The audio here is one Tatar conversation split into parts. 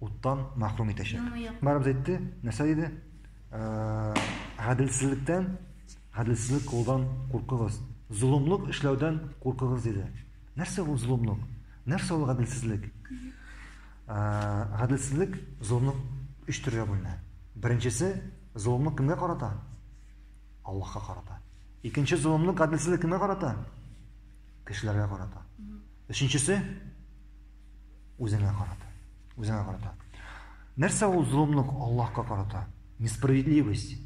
уттан мәхрүм итәчәк. Барыбыз әйтте, нәрсә диде? Гаделсезлектән, гаделсезлек кылудан куркыгыз. Золымлык эшләүдән куркыгыз диде. Нәрсә ул золымлык? Нәрсә ул гаделсезлек? Гаделсезлек, золымлык өч төргә бүленә. Беренчесе, золымлык кемгә карата? Аллаһка карата. Икенче золымлык, гаделсезлек кемгә карата? Кешеләргә карата. Өченчесе, Үзеңә карата. Үзеңә карата. Нәрсә ул золымлык Аллаһка карата? Несправедливость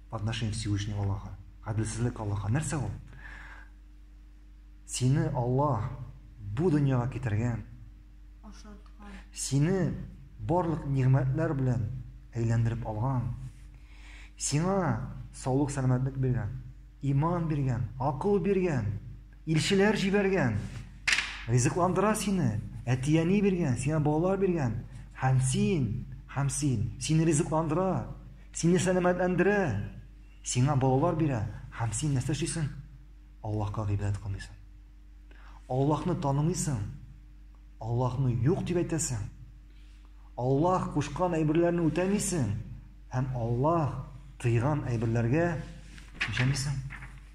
по отношению к Всевышнему Аллаха. Гаделсезлек Аллаһка. Нәрсә ул? Сине Аллаһ бу дөньяга китергән. Ашаткан. Сине барлык нигъмәтләр белән әйләндереп алган. Сиңа саулык сәламәтлек биргән, иман биргән, акыл биргән. Илчеләр җибәргән. Ризыкландыра сине. Әти-әни биргән, сиңа балалар биргән. Һәм син, һәм син, сине ризыкландыра, сине сәламәтләндерә, сиңа балалар бирә, һәм син нәрсә эшлисең? Аллаһка гыйбадәт кылмыйсың. Аллаһны танымыйсың. Аллаһны юк дип әйтәсең. Аллаһ кушкан әйберләрне үтәмисең һәм Аллаһ тыйган әйберләргә җәмисең.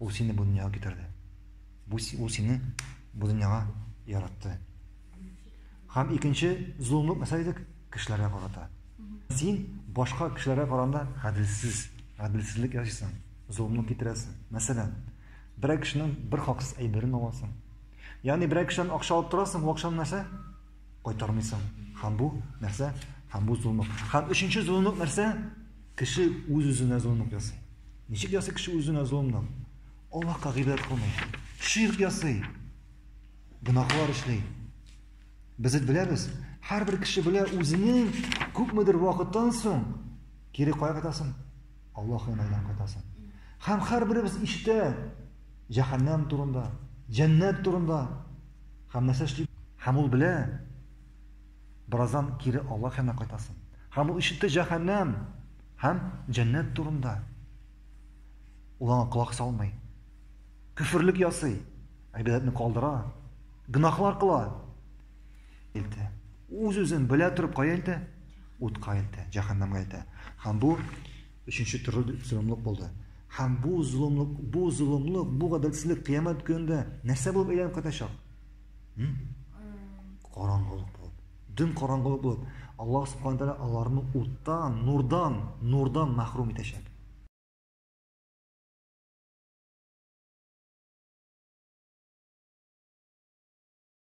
Ул сине бу дөньяга китерде. Бу ул сине бу дөньяга яратты. Һәм икенче зулымлык нәрсә идек? Кешеләргә карата. Син башка кешеләргә караганда гаделсез, гаделсезлек ясыйсың, зулымлык китерәсең. Мәсәлән, берәр кешенең бер хаксыз әйберен аласың. Ягъни берәр кешедән акча алып торасың, бу акчаны нәрсә? Кайтармыйсың. Һәм бу нәрсә? Һәм бу золымлык. Һәм өченче золымлык нәрсә? Кеше үз-үзенә золымлык ясый. Ничек ясый кеше үзенә золымлык? Аллаһка гыйбадәт кылмый. Ширк ясый. Гөнаһлар эшли. Без бит беләбез, һәрбер кеше белә үзенең күпмедер вакыттан соң кире кая кайтасын? Аллаһ янайдан кайтасың. Һәм һәрберебез ишетә җәһәннәм турында, җәннәт турында. Һәм нәрсә эшли? Һәм ул белә, бераздан кире Аллаһ янына кайтасың. Һәм ул ишетте җәһәннәм һәм җәннәт турында. Ул аңа колак салмый. Күферлек ясый, әйбәтне калдыра, гынахлар кыла. илтә. Үз-үзен белә торып кая илтә? Утка илтә, җәһәннәмгә илтә. Һәм бу өченче төрле золымлык булды. Һәм бу золымлык, бу золымлык, бу гаделсезлек кыямәт көнендә нәрсә булып әйләнеп кайтачак? Караңгылык булып. Дөм караңгылык булып. Аллаһ субхана тәгалә аларны уттан, нурдан, нурдан мәхрүм итәчәк.